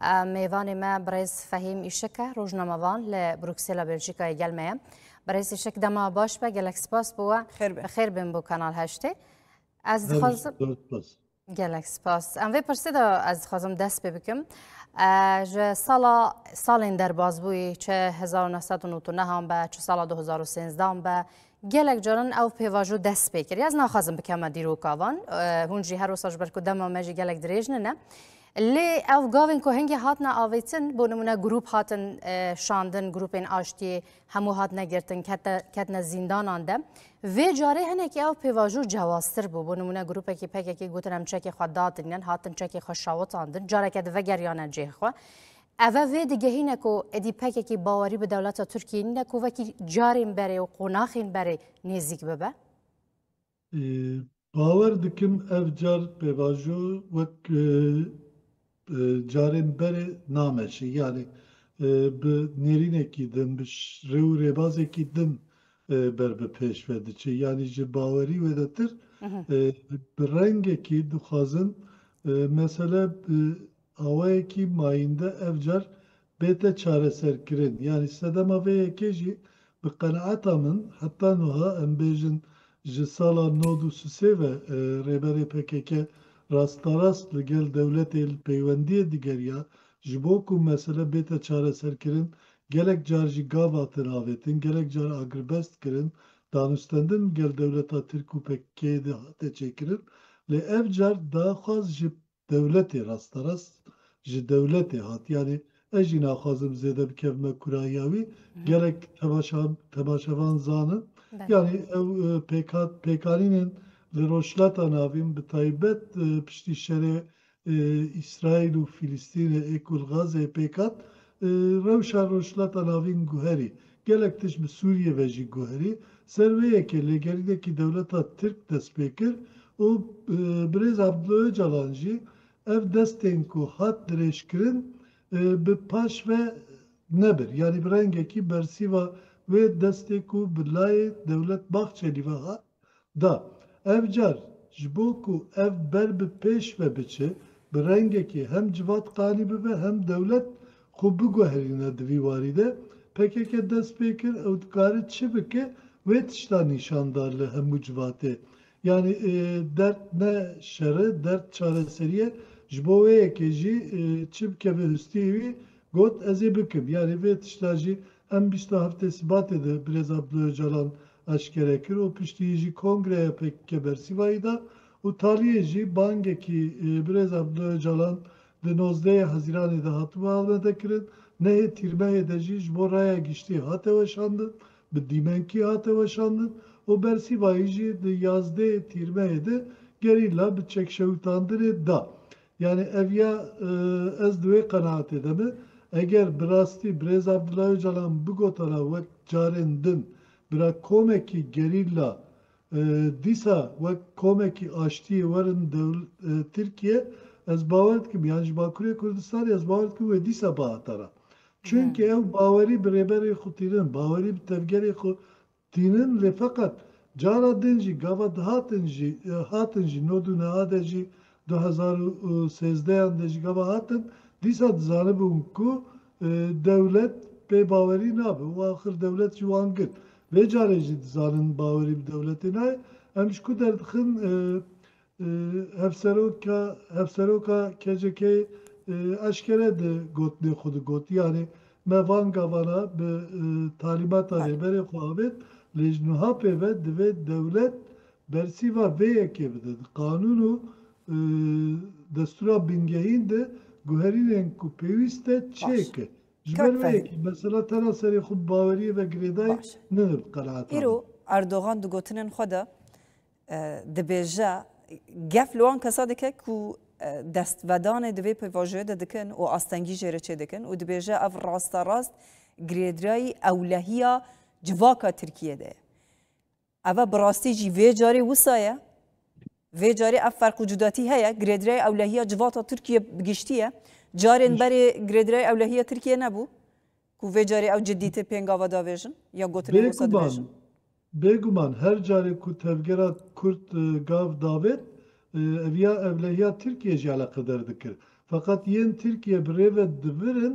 Mêvanê me birêz Fehîm Îşik e, rojnamevan li Brûksêla Belçîkayê gel me ye. Birêz Îşik dema baş be, gelek spas bo we. Bi xêr bin bo Kanal Heştê. Ez dixwazim gelek spas. Em vê pirsê de ez dixwazim dest pê bikim. Ji sala salên derbazbûyî çi 1999 be, çi sala 2013 be, Gelek caran ew pêvajo dest pê kir. Ez naxwazim bikeme dîroka van. Hûn jî her wisa ji ber ku dema me jî gelek dirêj nine. Lê ew gavên ku hingê hatine avêtin bo nimune grûp hatin şandin, grûpên aştiyê hemû hatine girtin ketine zîndanan de. Vê carê hinekî ew pêvajo cewaztir bû. Bo nimune grûpekî pekekî gotin em çekê xwe dadinin, hatin çekê xwe şawitandin, careke di vegeriyane cihê xwe. Eve vê digehîne ku êdî pekekî bawerî bi dewleta Tirkiyê nîne ku wekî carên berê û qonaxên berê nêzîk bibe? Bawer dikim ev car pêvajo wek carên berê nameşe. Yanî bi nêrînekî din, bi rê û rêbazekî din ber bi pêş ve diçe. Yanî ji bawerî wêdetir bi rengekî dixwazin mesele awayekî mayînde ev car bête çareserkirin. Yanî sedema vê yekê jî bi qenaeta min heta nuha em bêjin ji sala nod û sisê ve Rêberê pkk rastarast li gel dewletê li peywendiyê digeriya ji bo ku mesele bête çareserkirin gelek car jî gav hatin avêtin, gelek car agrbest kirin, danûstendin li gel dewleta Tirk û pkk'ê dihate çêkirin lê ev car daxwaz ji dewletê rasterast ji dewletê hat yanî ez jî naxwazim zêde bikevime kurahiya wî gelek temaşevan zanin yanî ew pêkanînên li Rojhilata Navîn bi taybet piştî şerê Îsraîl û Fîlîstînê ê ku li Gazeyê pêk hat Rewşa Rojhilata Navîn guherî, gelek tişt bi Sûriyê ve jî guherî. Ser vê yekê lêgerînekî dewleta Tirk dest pê kir û birêz Abdullah Ocalan jî ev destên ku hat dirêjkirin bi paş ve nebir. Yanî bi rengekî bersîva wê destê ku bi layê dewlet Bahçelî ve hat, Da. Ev car ji bo ku ev ber bi pêş ve biçe, bi rengekê hem Civat qanî bibe hem dewlet xwe biguherîne di vî warî de. Pkk dest pê kir ew dikare çi bike wê tişta nîşan da li hemû civatê. Yanî dert ne şer e, dert çareserî ye. Ji bo wê yekê jî çi bikeve hustiyê wî got ez ê bikim. Yanî vê tişta jî em bîst a heftê Sibatê de Birêz Abdullah Ocalan eşkere kir û piştî jî kongreya pkk bersîvayî da û taliyê jî bangekî birêz Abdullah Ocalan di nozdeyê Hezîranê de hatibû Amedê kirin, nehê Tîrmehê de jî ji bo raya giştî hate weşandin, bi dîmenkî hate weşandin û bersîvayî jî di yazdê Tîrmehê de gerîla bi çekşewitandinê da Yanî ev ya ez di wê qenaatê de me. Eger bi rastî birêz Abdullah Ocalan bigotara wek carên din bira komekî gerîlla dîsa wek komekî aştiyê werin Tirkiye ez bawer dikim yan ji Bakurê Kurdistanê ez bawer dikim wê dîsa bihatara. Çunke ew bawerî bi rêberê xwe tînin, bawerî bi tevgerê xwe Tînin lê feqet cara din jî gava dihatin jî hatin jî nod û neha de jî du hezar û sêzdeh yan de jî gava hatin dîsa dizanibûn ku dewlet pê bawerî nabe û axir dewlet jî wan girt vê carê jî dizanin bawerî bi dewletê nayê em ji ku derdixin Hevseroka KCK'ê eşkere di gotinên xwe de got, yanî me van gavana bi talîmata Rêberê xwe avêt lê ji niha pê ve divê dewlet bersîva vê yekê bide. Di qanûn û destûra bingehîn de guherînên ku pêwîst e çêke. Ji ber vê yekê mesela tena serê xwe bi baweriyê ve girêdayî nine bi qenaeta min. Îro Erdogan di gotinên xwe de Dibêje, gef li wan kesan dike ku destvedanê di vê pêvajoyê de dikin û astengî jê re çêdikin û dibêje ev rasta rast girêdreyî ewlehiya civaka Tirkiyê de ye. Ev e bi rastî jî vê carê wisa ye. Vê carê ev ferq û cudatî heye, girêdreyê ewlehiya civata Tirkiyê bi giştî ye. Carên berê girêdreyê ewlehiya Tirkiyê nebû. Ku vê carî ew cidîtir pêngava davêjin ya gotinên wisa Bêguman, dibêjin. bêguman her carê ku tevgera kurd gav davêt eviya evlehiya Tirkiyeyê jî eleqeder dikir. Feqet yên Tirkiye bi rê ve divirin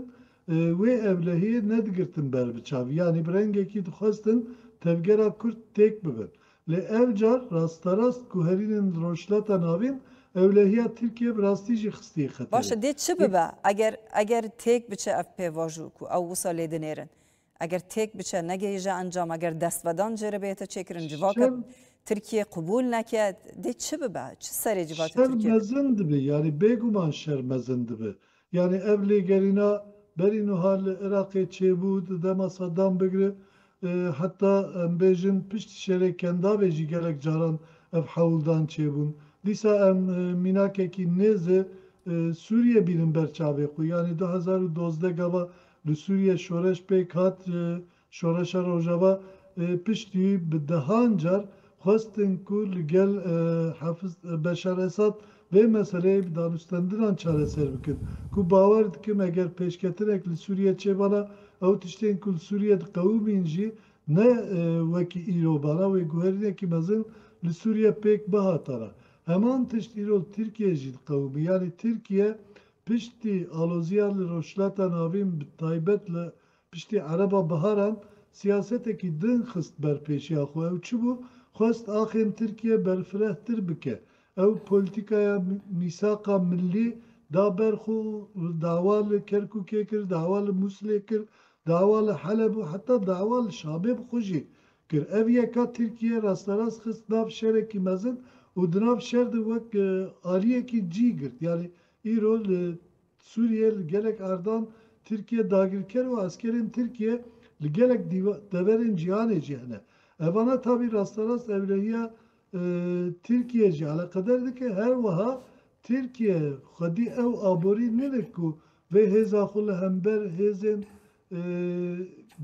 wê evlehiyê nedigirtin ber bi çav. Yanî bi rengekî dixwestin tevgera kurd têk bibin. Lê ev car rasterast guherînên li Rojhilata Navîn ewlehiya Tirkiyeyê bi rastî jî xistiye Baş xeterê. e dê çi bibe eger eger têk biçe ev pêvajo ku ew wisa lê dinêrin? Eger têk biçe negihîje encam eger destvedan cêre bihête çêkirin civaka Şer. Tirkiyeyê qibûl neke dê çi bibe? Çi serê civaka Şer Tirkiyeyê dibe? mezin dibe yanî bêguman şer mezin dibe. Yanî ev lêgerîna berî nuha li Iraqê çêbû di dema Saddam bigre heta em bêjin pişt şerê Kendavê jî gelek caran ev hewldan çêbûn. Dîsa em mînakekî nêz e Sûriyê bînin ber çavê xwe. Yanî du hezar û dozdeh gava li Sûriyê şoreş pêk hat Şoreşa Rojava ê piştî bi dehan car xwestin ku li gel Hafiz Beşar Esad vê meseleyê bi danûstandinan çareser bikin ku bawer dikim eger pêşketinek li Sûriyê çêbana ew tiştên ku li Sûriyê diqewimîn jî ne wekî îro bana wê guherînekî mezin li Sûriyê pêk bihatara. Heman tişt îro li Tirkiyeyê jî diqewimî yanî Tirkiye piştî aloziya li Rojhilata Navîn bi taybet li Piştî Ereba Biharan siyasetekî din xist ber pêşiya xwe. Ew çi bû? Xwest axên Tirkiye berfirehtir bike. Ew polîtîkaya mîsaqa millî da ber xwe û dawa li Kerkûkê kir, dawa li Mûsilê kir, dawa li Heleb û heta dawa li Şamê bi xwe jî kir. Ev yeka Tirkiye rasterast xist nav şerekî mezin û di nav şer de wek aliyekî cî girt. Yanî îro li Sûriyê li gelek ardan Tirkiye dagirker û eskerên Tirkiye li gelek deverên cîhanê jî hene. Ev vana tabî rasterast ewlehiya Tirkiyê jî eleqeder dike. Her wiha Tirkiye xwedî ew aborî nênik ku vê hêza xwe li hember hêzên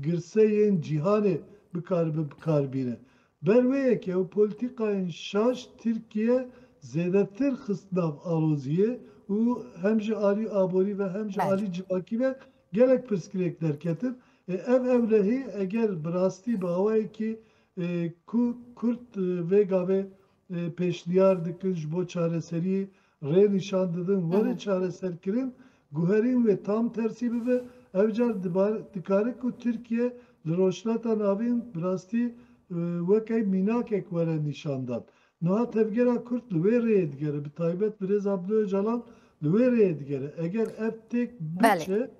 girse yên cîhanê bikaribe bikar bîne. Ber wê yekê û polîtîkayên şaş Tirkiye zêdetir xist nav aloziyê û hem ji alî aborî ve hem ji alî civakî ve gelek pirsgirêk derketin. Ev ewlehî eger bi rastî bi awayekî ku kurd vê gavê pêşniyar dikin ji bo çareseriyê Rê nîşan didin were çareserkirin, guherîn wê tam tersî bibe, ev car dikare ku Tirkiye li Rojhilata Navîn bi rastî weke mînakek were nîşandan. Niha tevgera Kurd li wê rêyê digere, bi taybet birêz Abdullah Ocalan li wê rêyê digere. Eger ev têk biçe,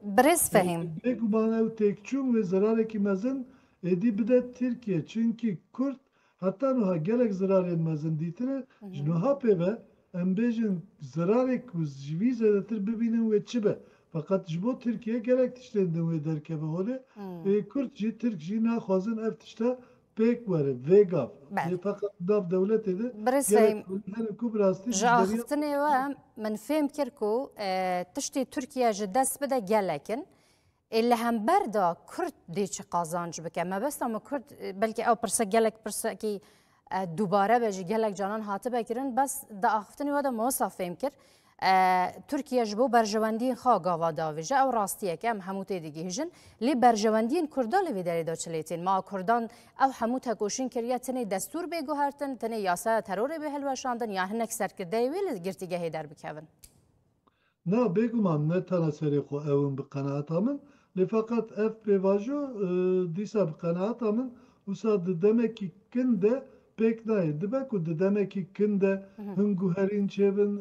bêguman ew têkçûn wê zerarekî mezin êdî bide Tirkiye, çimkî Kurd Heta nuha gelek zirarên mezin dîtine, ji nuha pê ve em bêjin zirarê ku ji vî zêdetir bibînin wê çi be. Feqet ji bo Tirkiye gelek tiştên din wê derkeve holê. Ê Kurd jî Tirk jî naxwazin ev tişta pêk were. Vê gav dê feqet di nav dewletê de gelek holî hene ku bi rastî ji beriya Kurd re bibin. Min fêm kir ku tiştê Tirkiye ji dest bide gelek in. Ê li hember de Kurd dê çi qazanc bike? Mebesta me Kurd belkî ew pirse gelek pirsekî dubare be ji gelek canan hatibe kirin bes di axiftinê we de mosa fêm kir. Türkiye ji bo berjewendiyên xwe gava davêje ew rastiyek em hemû tê digihîjin lê berjewendiyên Kurda li vê derê de çi lê tên ma Kurdan ew hemû tekoşîn kiriye tinê destûr bê guhertin tinê yasaya terorê bê hilweşandin yan hinek serkirdeyê wê li girtîgehê derbikevin. Na, bêguman ne tena serê xwe ew in bi qenaata min, lê feqet ev pêvajo dîsa bi qenaata min wisa di demekî kin de pêk nayê. Dibe ku di demekî kin de hin guherîn çêbin,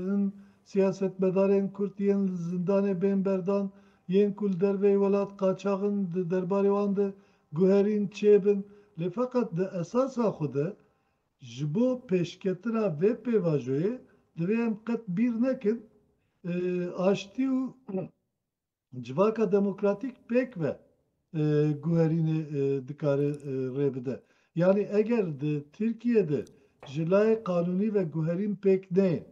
hin siyasetmedarên Kurd yên li zindanê bên berdan, yên ku li derveyî welat qaçax in di derbarê wan de guherîn çêbin. Lê feqet di esasa xwe de Ji bo pêşketina vê pêvajoyê divê em qet bîr nekin aştî û civaka demokratîk pêk ve guherînê dikare rê bide. Yanî eger di Tirkiyeyê de ji layê qanûnî ve guherîn pêk neyên,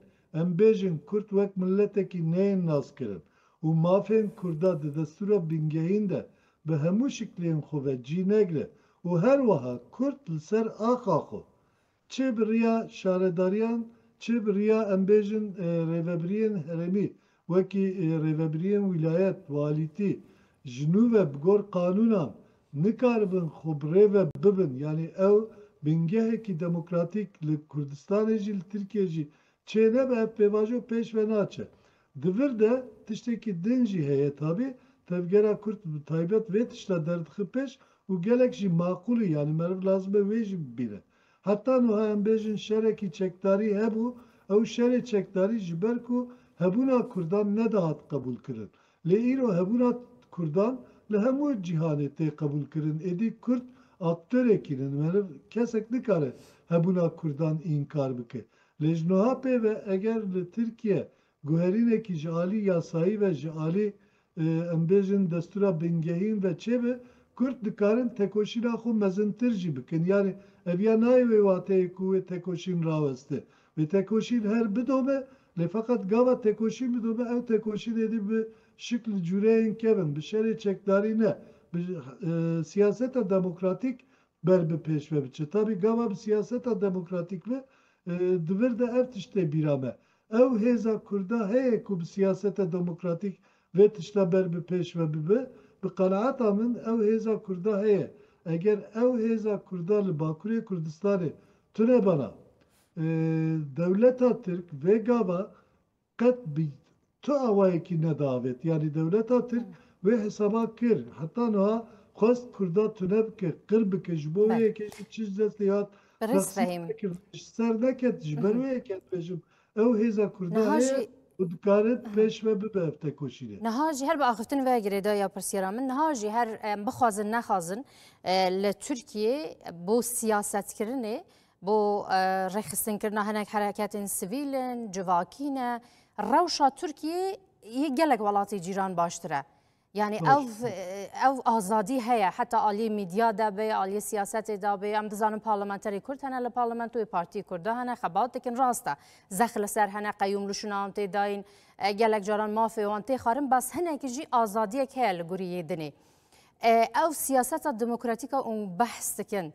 em bêjin kurd wek miletekî neyên naskirin û mafên kurda di destûra bingehîn de bi hemû şiklên xwe ve cî negre û her wiha kurt li ser axa xwe çê bi riya şaredariyan çê bi riya em bêjin rêvebiriyên herêmî wekî rêvebiriyên wîlayet, walîtî ji nû ve bi gor qanûnan nikaribin xwe bi rê ve bibin yanî ew bingehekî demokratîk li Kurdistanê jî li Tirkiyê jî çê nebe ev pêvajo pêş ve naçe Di vir de tiştekî din jî heye tabî tevgera Kurd bi taybet vê tişta derdixe pêş û gelek jî maqûlî yanî meriv lazim e wê jî bibîne. Heta nuha em bêjin şerekî çekdarî hebû, ew şerê çekdarî ji ber ku hebûna Kurdan nedihat qebûlkirin. Lê îro hebûna Kurdan li hemû cîhanê tê qebûlkirin êdî Kurd aktorekî ne meriv kesek nikare hebûna Kurdan înkar bike. Lê ji niha pê ve eger li Tirkiye guherînekî ji alî yasayî ve ji alî em bêjin destûra bingehîn ve çêbe, Kurd dikarin tekoşîna xwe mezintir jî bikin. Yanî ev ya nayê wê wateyê ku wê tekoşîn raweste. Wê tekoşîn her bidobe lê feqet gava tekoşîn bidobe ew tekoşîn êdî bi şikl cûreyên kevn, bi şerê çekdarî ne, bi siyaseta demokratîk Ber bi pêş ve biçe. Tabî gava bi siyaseta demokratîk ve di vir de ev tişt tê bîra me. Ew hêza kurda heye ku bi siyaseta demokratîk vê tişta ber bi pêş ve bibe. Bi qenaeta min ew hêza kurda heye. Eger ew hêza kurda li Bakurê Kurdistanê tune bana, dewleta Tirk vê gava Qet bi tu awayekî nedaavêt. Yanî dewleta Tirk wê hesaba kir. Heta nuha xwest Kurda tune bike, qir bike. Ji bo wê yekê jî çi ji destê hat, rexsî xwe nekird. Ji ser neket. Ji ber wê yekê dibêjim ew hêza Kurda heye û dikare bi pêş ve bibe ev tekoşînê. Niha jî her bi axiftin ve girêdaya pirsiyara min, niha jî her em bixwazin nexwazin li Tirkiyê bo siyasetkirinê Bo rêxistinkirina hinek hereketên sivîl in, civakî ne. Rewşa Tirkiyê yê gelek welatê cîran baştir e. Yani ev ev azadî heye heta aliyê medya de bê aliyê siyasetê de bê em dizanin parlamenterê kurd hene li parlamentoyê partiyê kurd de hene xebat dikin rast e zex li ser hene qeyûm li şûna wan tê dayîn gelek caran mafê wan tê xarin bas hinekî jî azadiyek heye li gurî yê dinê ew siyaseta demokratîka û behs dikin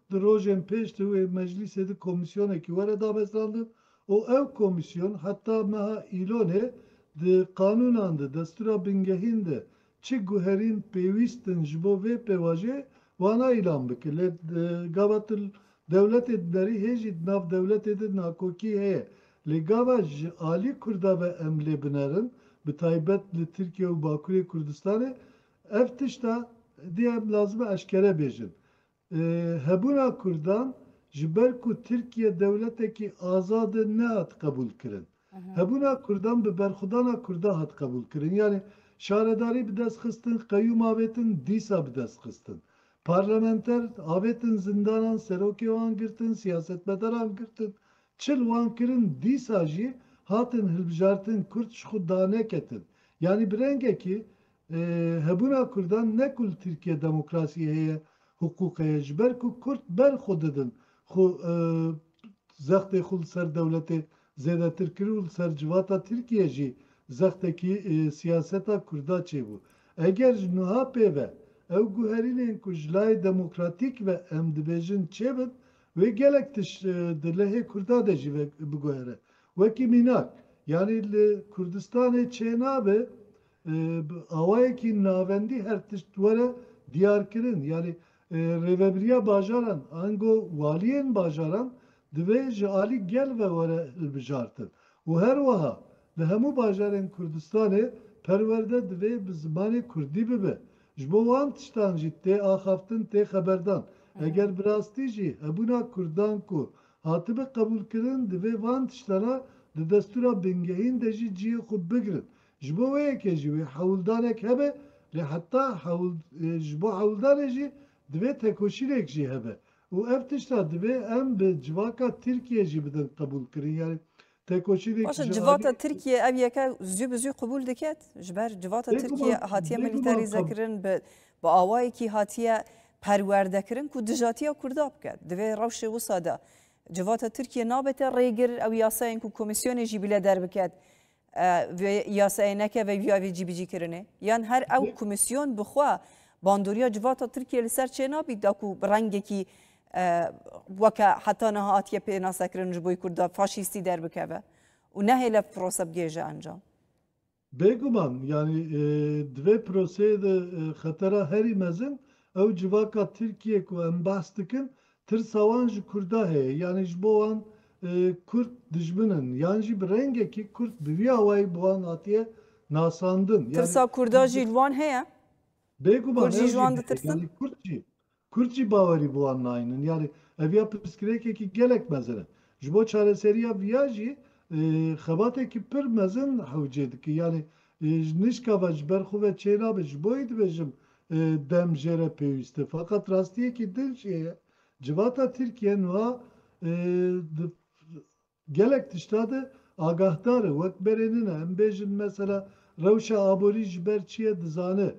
Di rojên pêş di wê meclîsê de komîsyonekî were damezrandin û ew komîsyon heta meha Îlonê di qanûnan de, destûra bingehîn de çi guherîn pêwîst in ji bo vê pêvajiyê wana îlan bike. Lê di gava tu dewletê dinerî hê jî di nav dewletê de nakokî heye. Lê gava ji alî Kurda ve em lê binerin bi taybet li Tirkiye û Bakurê Kurdistanê ev tişta dê em lazim e eşkere bêjin. Hebûna Kurdan ji ber ku Tirkiye dewletekî azad e nehat qebûl kirin. Hebûna Kurdan bi berxwedana Kurdan hat qebûl kirin. Yanî şaredarî bi dest xistin, qeyûm avêtin, dîsa bi dest xistin. Parlamenter avêtin zindanan, serokê wan girtin, siyasetmedaran girtin, çi li wan kirin, dîsa jî hatin hilbijartin, Kurd ji xwe daneketin. Yanî bi rengekî Hebûna Kurdan ne ku li Tirkiye demokrasî heye, hiqûq heye, ji ber ku Kurd ber xwe didin, xwe zextê xwe li ser dewletê zêdetir kir û li ser civata Tirkiye jî zextekî siyaseta Kurda çêbû. Eger ji nuha pê ve ew guherînên ku ji layê demokratîk ve em dibêjin çêbin, wê gelek tişt di lehê Kurda de jî biguhere. Wekî mînak, yanî li Kurdistanê çênabe Bi awayekî navendî her tişt were diyarkirin. Yanî Rêvebiriya Bajaran ango waliyên bajaran divê ji alî gel ve were hilbijartin û her wiha li hemû bajarên Kurdistanê perwerde divê bi zimanê Kurdî bibe. Ji bo wan tiştan jî tê axaftin, tê xeberdan. Eger bi rastî jî hebûna Kurdan ku hatibe qebûlkirin divê van tiştana di destûra bingehîn de jî cihê xwe bigirin. Ji bo wê yekê jî wê hewldanek hebe lê heta ji bo hewldanê jî divê tekoşînek jî hebe û ev tişta divê em bi civaka Tirkiyê jî bidin qebûlkirin yanî tekoşînek ji aliyê Civata Tirkiyê ev yeke zû bi zû qebûl diket? Ji ber civata Tirkiyê hatiye milîterîzekirin bi bi awayekî hatiye perwerdekirin ku dijatiya Kurda biket. Divê rewşê wisa de civata Tirkiyê nabete rêgir ew yasayên ku komîsyonê jî bile derbiket Vê yasayê neke vê vîya vê cîbicîkirinê? Yan her ew komîsyon bi xwe bandoriya civata Tirkiyeyê li ser çê nabît da ku bi rengekî weke heta niha hatiye pênasekirin ji boî Kurda faşîstî derbikeve û nehêle prosa bigêje encam? Bêguman yanî di vê proseyê de xetera herî mezin ew civaka Tirkiyeyê ku em behs dikin Tirsa wan ji Kurda heye yanî ji bo wan Kurd dijmin in yan jî bi rengekî Kurd bi vî awayî bi wan hatiye nasandin. Tirsa Kurda jî li wan heye? Bêguman ew jî heye yanî Kurd jî Kurd jî bawerî bi wan nayînin yanî ev ya pirsgirêkekî gelek mezin e. Ji bo çareseriya viya jî xebatekî pir mezin hewcê dike yanî ji nişka ve ji ber xwe ve çênabe ji bo yê dibêjim Dem jê re pêwîst e. Feqet rastiyekî din jî heye. Civata Tirkiye nuha di gelek tişta de agahdar e. Wek berê nina em bêjin mesela rewşa aborî ji ber çi ye dizane.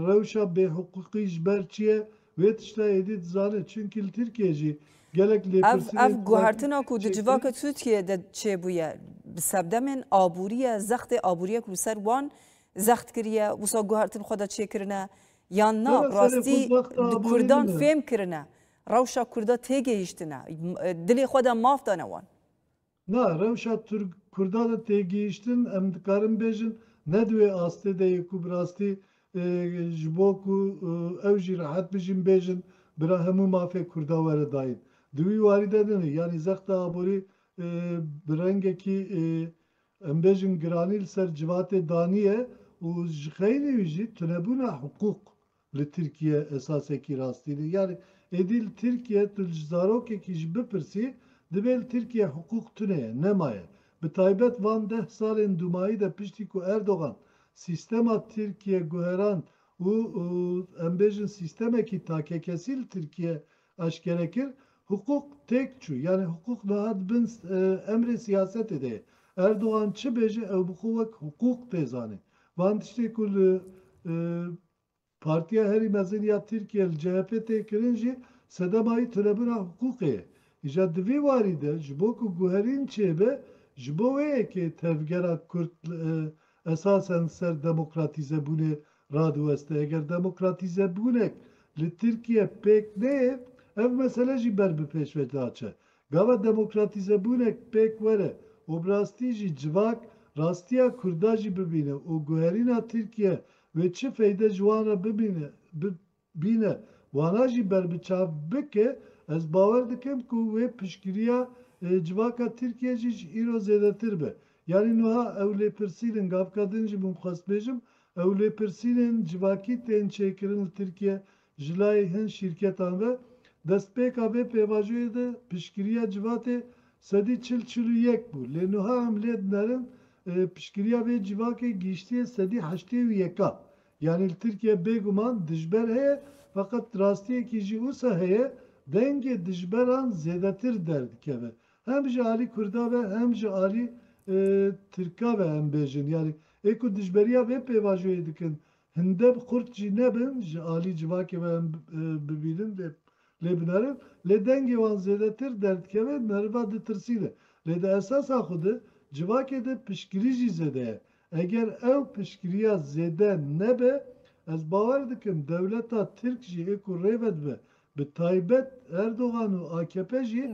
Rewşa bêhiqûqî ji ber çi ye wê tişta êdî dizane. Çimkî li Tirkiyeyê jî gelek lêpirsînên Ev guhertina ku di civaka Tirkiyeyê de çêbûye, bi sebdemên aborî ye, zextê aborî ye ku li ser wan Zext kiriye, wisa guhertin xwe de çêkirine yan na bi rastî di Kurdan fêm kirine, rewşa Kurda têgihîştine, dilê xwe de maf dane wan? Na, rewşa Kurda de têgihîştin em dikarin bêjin ne di wê astê de yê ku bi rastî ji bo ku ew jî rehet bijîn bêjin bira hemû mafê Kurda were dayîn. Di wî warî de ne ne. Yanî zexta aborî bi rengekî Em bêjin giranî li ser civatê daniye û ji xeylê wî jî tunebûna hiqûq li Tirkiye esasekî rastî ne. Yanî êdî li Tirkiye tu ji zarokekî jî bipirsî dibê li Tirkiye hiqûq tune ye, nema ye. Bi taybet van deh salên dûmayî de piştî ku Erdogan sîstema Tirkiye guherand û em bêjin sîstemekî takekesî li Tirkiye Aşkere kir, Hiqûq têk çû, yanî hiqûq dihat bin emrê siyasetê de ye. Erdogan çi bêje ew bi xwe wek hiqûq tê zanê. Van tiştên ku li Partiya Herî Mezin ya Tirkiye li CHP'ê tê kirin jî sedema wî tunebûna hiqûqê ye. Îja di vî warî de ji bo ku guherîn çêbe, ji bo wê ye kê tevgera Kurd esasen ser demokratîzebûnê radiweste. Eger demokratîzebûnek li Tirkiye pêk neyê, ev mesele jî ber bi pêş ve diaçe. Gava demokratîzebûnek pêk were û bi rastî jî civak rastiya Kurda jî bibîne û guherîna Tirkiye wê çi feyde ji wan re bimîne, Bîne, wana jî berbiçav bike, ez bawer dikim ku wê piştgiriya civaka Tirkiyê jî ji îro zêdetir be. Yanî nuha ew lêpirsînin, gavka din jî min xwest bêjim, ew lêpirsînên civakî tên çêkirin li Tirkiye ji layê hin şîrketan ve. Destpêka vê pêvajoyê de piştgiriya civatê sedî çil, çil û yek bû. Lê nuha em lê dinerin piştgiriya vê civakê gihîştiye sedî heştê û yeka. Yanî li Tirkiye bêguman dijber heye feqet rastiyekî jî ûsa heye dengê dijberan zêdetir derdikeve hem ji alî kurda ve hem ji alî tirka ve em bêjin yanî ê ku dijberiya vê pêvajoyê dikin hinde bi qurt jî nebin ji alî civakê ve em bibînin lê lê binerin lê dengê wan zêdetir derdikeve meriva ditirsîne lê di esasa xwe de civakê de piştgirî jî zêde ye Eger ew piştgiriya zêde nebe, ez bawer dikim dewleta Tirk jî ê ku rê vedibe, bi taybet Erdogan û akp jî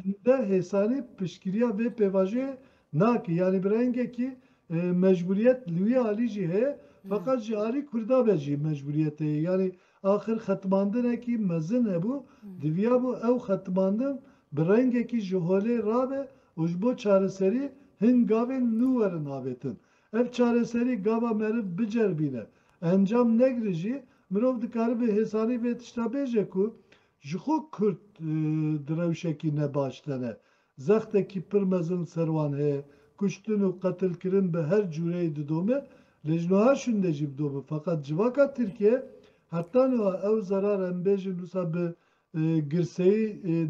hinde hêsanî piştgiriya vê pêvajoyê nake. Yanî bi rengekî mecbûriyet li wî alî jî heye, feqet ji alî Kurda ve jî mecbûriyet heye. Yanî Axir xetmandinekî mezin hebû, diviyabû ew xetmandin bi rengekî ji holê rabe û ji bo çareserî hin gavên nû werin avêtin. Ev çareserî gava meriv biceribîne, encam negire jî, mirov dikaribe hêsanî vê tişta bêje ku ji xwe Kurd di rewşekî ne baş tene Zextekî pir mezin li ser wan heye. Kuştin û qetilkirin bi her cûreyê didome, lê ji nuha şûnde jî bidome. Feqet civaka Tirkiyeyê heta nuha ew zerar em bêjin wisa bi girseyî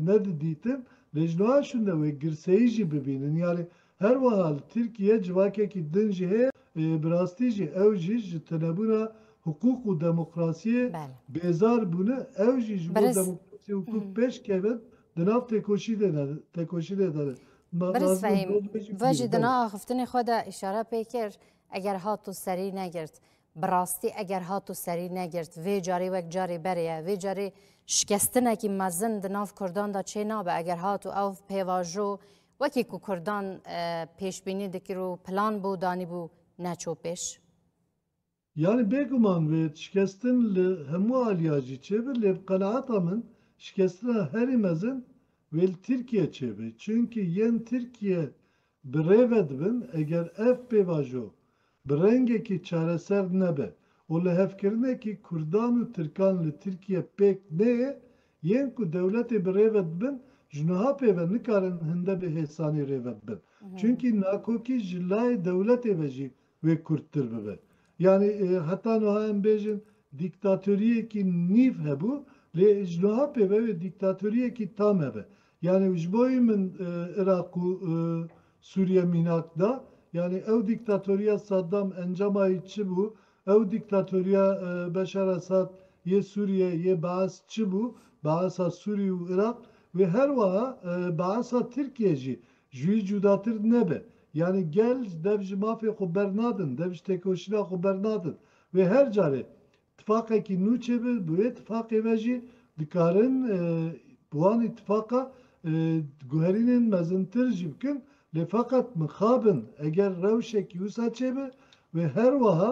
nedidîtin, lê ji nuha şûnde wê girseyî jî bibînin. Yanî her wiha li Tirkiyeyê civakekî din jî heye, bi rastî jî ew jî ji tunebûna hiqûq û demokrasiyê bêzar bûne, ew jî ji bo demokrasî û hiqûq pêş kevin Di nav têkoşînê de ne, tekoşînê de ne. Ma Berîz Nazim Fehîm, Dost Bêjî ve jî bîne. di Belê. na axiftinê xwe de îşare pê kir, eger hatû serî negirt, bi rastî eger hatû serî negirt, vê carî wek carê berê ye. Vê carê şikestinekî mezin di nav kurdan de çê nabe, eger hatû ew pêvajo wekî ku kurdan pêşbînî dikir û plan bû danîbû, neçû pêş. Yanî bêguman wê şikestin li hemû aliya jî çêbe lê bi qenaeta min şikestina herî mezin wê li Tirkiye çêbe çunki yên Tirkiye bi rê ve dibin eger ev pêvajo bi rengekî çareser nebe û li hevkirinekî kurdan û tirkan li Tirkiye pêk neyê yên ku dewletê bi rê ve dibin ji nuha pêve nikarin hinde bi hêsanî rê ve bibin çunki nakokî ji layê dewletê ve jî wê kurttir bibe. Yanî heta nuha em bêjin dîktatoriyekî nîv hebû lê ji nuha pê ve wê dîktatoriyekî tam hebe. Yanî ji bo wî min Iraq û Sûriye mînak da. Yanî ew dîktatoriya Saddam encama wî çi bû? Ew dîktatoriya Beşar Esad yê Sûriye yê Baes çi bû? Baesa Sûrî û Iraq wê her wiha Baesa Tirkiye jî Ji wî cudatir nebe. Yanî gel dev ji mafê xwe bernadin, dev ji têkoşîna xwe bernadin. Wê her carê tifaqekî nû çêbe, bi wê tifaqê ve jî dikarin bi wan îtifaqa guherînên mezintir jî bikin. Lê feqet mixabin eger rewşekî wisa çêbe, wê her weha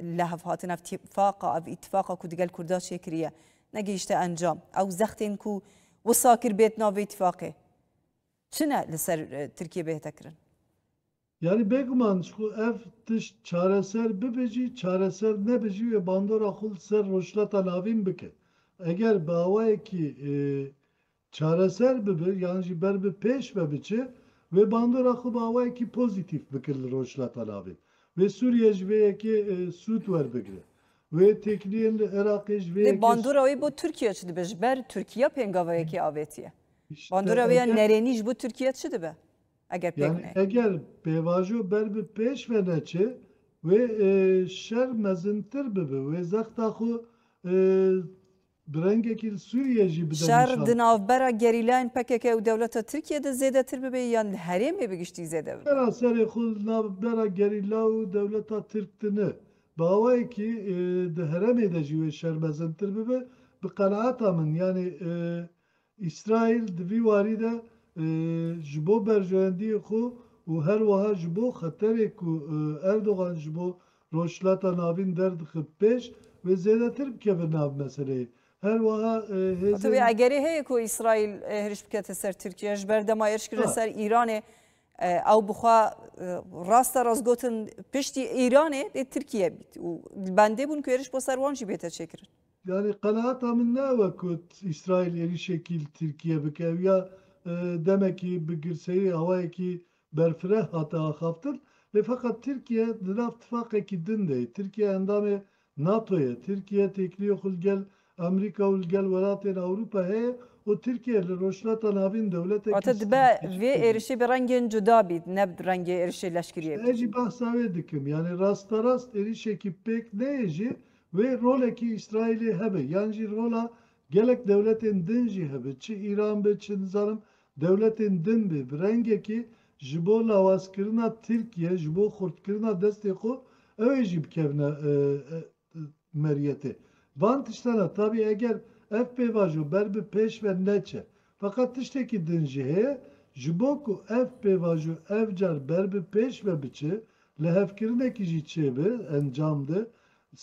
Li hevhatina ev tîfaqa, ev îtîfaqa ku di gel Kurda çêkiriye negihişte encam. Ew zextên ku wisa kir bêt nav vê îtîfaqê çi ne li ser Tirkiye bêhte kirin? Yanî bêguman ji ku ev tişt çareser bibe jî, çareser nebe jî wê bandora xwe li ser Rojhilata Navîn bike. Eger bi awayekî çareser bibe yan jî ber bi pêş ve biçe, wê bandora xwe bi awayekî pozîtîf bike li Rojhilata Navê. Wê Sûriye ji vê yekê sûd werbigire. Wê têkiliyên li Iraqê ji vê Lê yekê bandora wê bo Tirkiye çi dibe? Ji ber Tirkiye pêngava yekê avêtiye. Îşte Bandora wê ya eger nerênî ji bo Tirkiye çi dibe eger pêk Yanî neyê? eger pêvajo ber bi pêş ve neçe, wê şer mezintir bibe, wê zexta xwe Bi rengekî li Sûriyeyê jî bide nîşan. Şer di navbera gerîlayên pkk û dewleta Tirkiyeyê de zêdetir bibe yan li herêmê bi giştî zêde bibe? Vera serê xwe li navbera gerîla û dewleta Tirk de ne. Bi awayekî di herêmê de jî wê şer mezintir bibe. Bi qenaeta min yanî Îsraîl di vî warî de ji bo berjewendiyên xwe û her wiha ji bo xeterê ku Erdogan ji bo Rojhilata Navîn derdixe bi pêş ve zêdetir bikeve nav meseleyê. Her wiha Wate vê hêzên. egerê heye ku Îsraîl hêriş bikete ser Tirkiye ji ber dema hêriş kirine ser Îranê ew bi xwe rast a rast gotin piştî Îranê dê Tirkiye bît û li bendê bûn ku hêriş bo ser wan jî bête çêkirin. Yanî qenaata min ne ew e ku Îsraîl êrîşekî li Tirkiye bike. Ew ya demekî bi girseyî awayekî berfireh hate axaftin. Lê feqet Tirkiye di nav tifaqekî din de ye. Tirkiye endamê NATO ye. Tirkiye têkiliyê xwe li gel Amerîka û li gel welatên Ewropa heye û Tirkiye li Rojhilata Navîn dewletekî Wate dibe vê stratejîk e. êrişî bi rengên cuda bît ne bi rengê êrişê leşkeriyê. Ez jî behsa wê dikim. Yanî rasterast êrîşekî pêk neyê jî Wê rolekî Îsraîlê hebe yan jî rola gelek dewletên din jî hebe, çi Îran be, çi nizanim dewletên din bê, bi rengekê ji bo lawazkirina Tirkiye, ji bo xurtkirina destê xwe ew ê jî bikevine meriyetê. Van tiştan e, tabî eger ev pêvajo ber bi pêş ve neçe. Feqet tiştekî din jî heye, ji bo ku ev pêvajo ev car ber bi pêş ve biçe, lihevkirinekî jî çêbe encam de,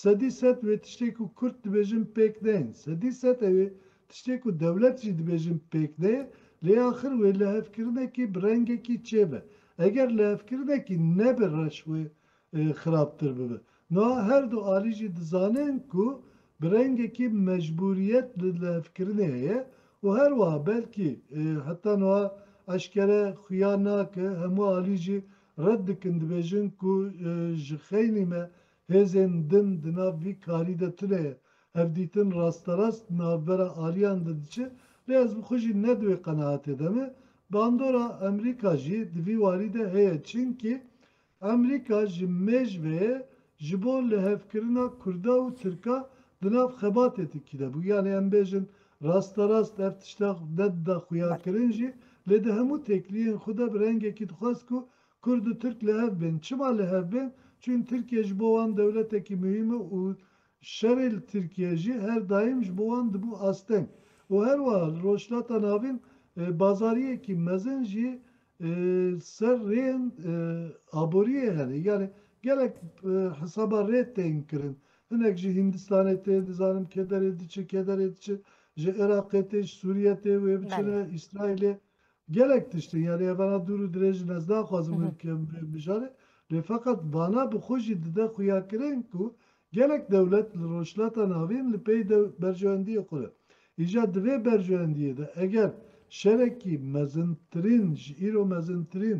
Sedî sed wê tiştê ku Kurd dibêjin pêk deyên, sedî sed e wê tiştê ku dewlet jî dibêjin pêk deyê, lê axir wê lihevkirinekî bi rengekî çêbe. Eger lihevkirinekî nebe reş wê xirabtir bibe. Nuha her du alî jî dizanin ku bi rengekî mecbûriyet li lihevkirinê heye û her wiha belkî heta nuha eşkere xuya nake hemû alî jî red dikin dibêjin ku ji xeynî me Hêzên din di nav vî karî de tune ye. Hevdîtin rasterast di navbera aliyan de diçe lê ez bi xwe jî ne di wê qenaetê de me. Bandora Emrîka jî di vî warî de heye çinkî Emrîka ji mêjveyê ji bo lihevkirina Kurda û Tirka di nav xebatê tirkî de bû. Yanî em bêjin rasterast ev tişta ne dida xuyakirin jî lê di hemû têkliyên xwe de bi rengekî dixwest ku Kurd û Tirk li hev bên. Çima li hev bên? Çün Tirkiye ji bo wan dewletekî muhîm e û şerê li Tirkiye jî her daîm ji bo wan dibû asteng. Û her wiha li Rojhilata Navîn bazariyekî mezin jî ser rêyên aboriyê hene. Yanî gelek hisaba rê tên kirin. Hinek ji Hîndistanê tê, dizanim kederê diçe kederê diçe, ji Iraqê tê, ji Sûriye tê wê biçine Îsraîlê. Gelek tiştên yanî evara dûr û dirêj in ez naxwazim wê bikim wê bijarê lê feqet vana bi xwe jî dide xuyakirin ku gelek dewlet li Rojhilata Navîn li pey de berjewendiyê xwe de. Îja di vê berjewendiyê de eger şerekî mezintirîn ji îro mezintirîn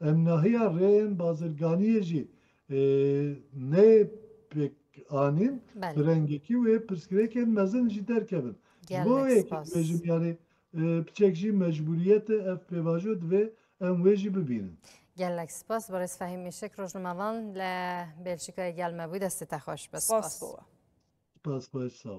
Em nahiya rêyên bazirganiyê jî nê pêk anîn, bi rengekî wê pirsgirêkên mezin jî derkevin. Ji bo wê yekê dibêjim yanî piçek jî mecbûriyet e ev pêvajo divê em wê jî bibînin. Gelek spas berêz Fehîm Îşek rojnimevan li Belçîkayê gel me bû destê te xweş be. Spas bo we. Spas xweş sağ ol.